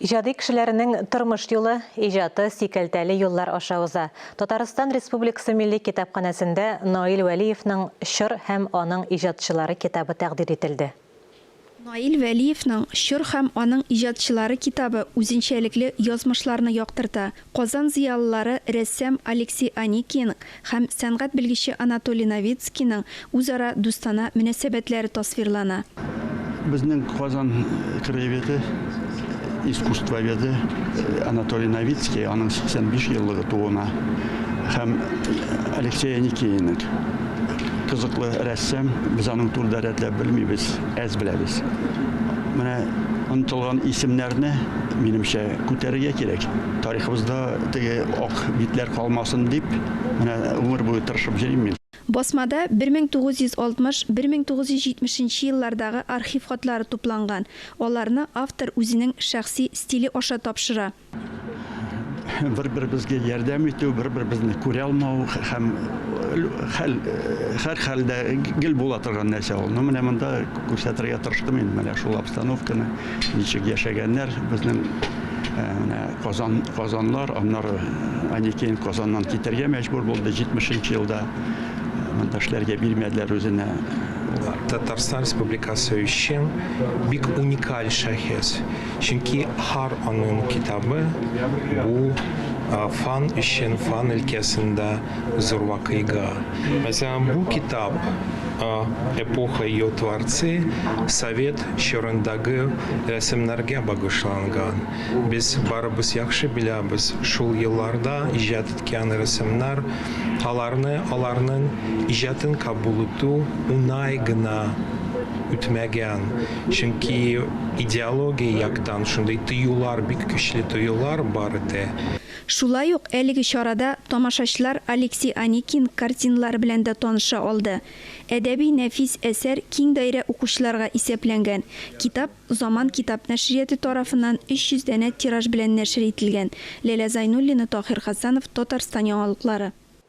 Иҗади кешеләренең тормыш юлы, иҗаты сикәлтәле юллар аша уза. Татарстан Республикасы Милли китапханәсендә Наил Вәлиевның Чор һәм аның иҗатчылары китабы тәкъдир ителде. Наил Вәлиевның Чор һәм аның иҗатчылары китабы үзенчәлекле язмышларны яктырта, Казан зыялылары рәссам Алексей Аникин һәм сәнгать белгече Анатолий Новицкийның үзара дустана мөнәсәбәтләре тасвирлана. Безнең Казан краеведы искусствоведы Анатолий Новицкий, аның 85 еллыгы тууына, һәм Алексей Аникиенең, кызыклы рәссам, без аның турыда рәтләп белмибез. Әз беләбез. Менә онытылган исемнәрне, минемчә, күтәрергә кирәк. Тарихыбызда теге ак битләр калмасын дип, менә гомер буе тырышып йөрим мин. Басмада 1960-1970 еллардагы архив хатлары тупланган, аларны автор үзенең шәхси стиле аша тапшыра. Бер-беребезгә ярдәм итү, бер-беребезне күрә алмау һәм хәл, һәр хәлдә гел була торган нәрсә ул. Ну, менә монда күрсәтергә тырыштым инде менә шул обстановканы, ничек яшәгәннәр безнең менә Казан, Казанлар, аннары Аникеен Казаннан китәргә мәҗбүр булды 70 нче елда. Монда эшләргә бирмәделәр үзенә. Татарстан Республикасы өчен бик уникаль шәхес. Чөнки һәр аның китабы бу фан өчен, фан өлкәсендә зур вакыйга. Мәсәлән, бу китап Эпоха и ее творцы, совет чорындагы рәсемнәргә багышланган. Без барыбыз яхшы беләбез, шул елларда иҗат иткән рәсемнәр, аларны, аларның иҗатын кабул итү уңай гына үтмәгән. Чөнки идеология яктан шундый тыюлар, бик көчле тыюлар бар иде. Шулай ук әлеге чарада тамашачылар Алексей Аникин картиналары белән дә таныша алды. Әдәби нәфис әсәр киң даирә укучыларга исәпләнгән. Китап Заман китап нәшрияты тарафыннан 300 данә тираж белән нәшер ителгән. Ләлә Зайнуллина, Таһир Хәсәнов, Татарстан яңалыклары.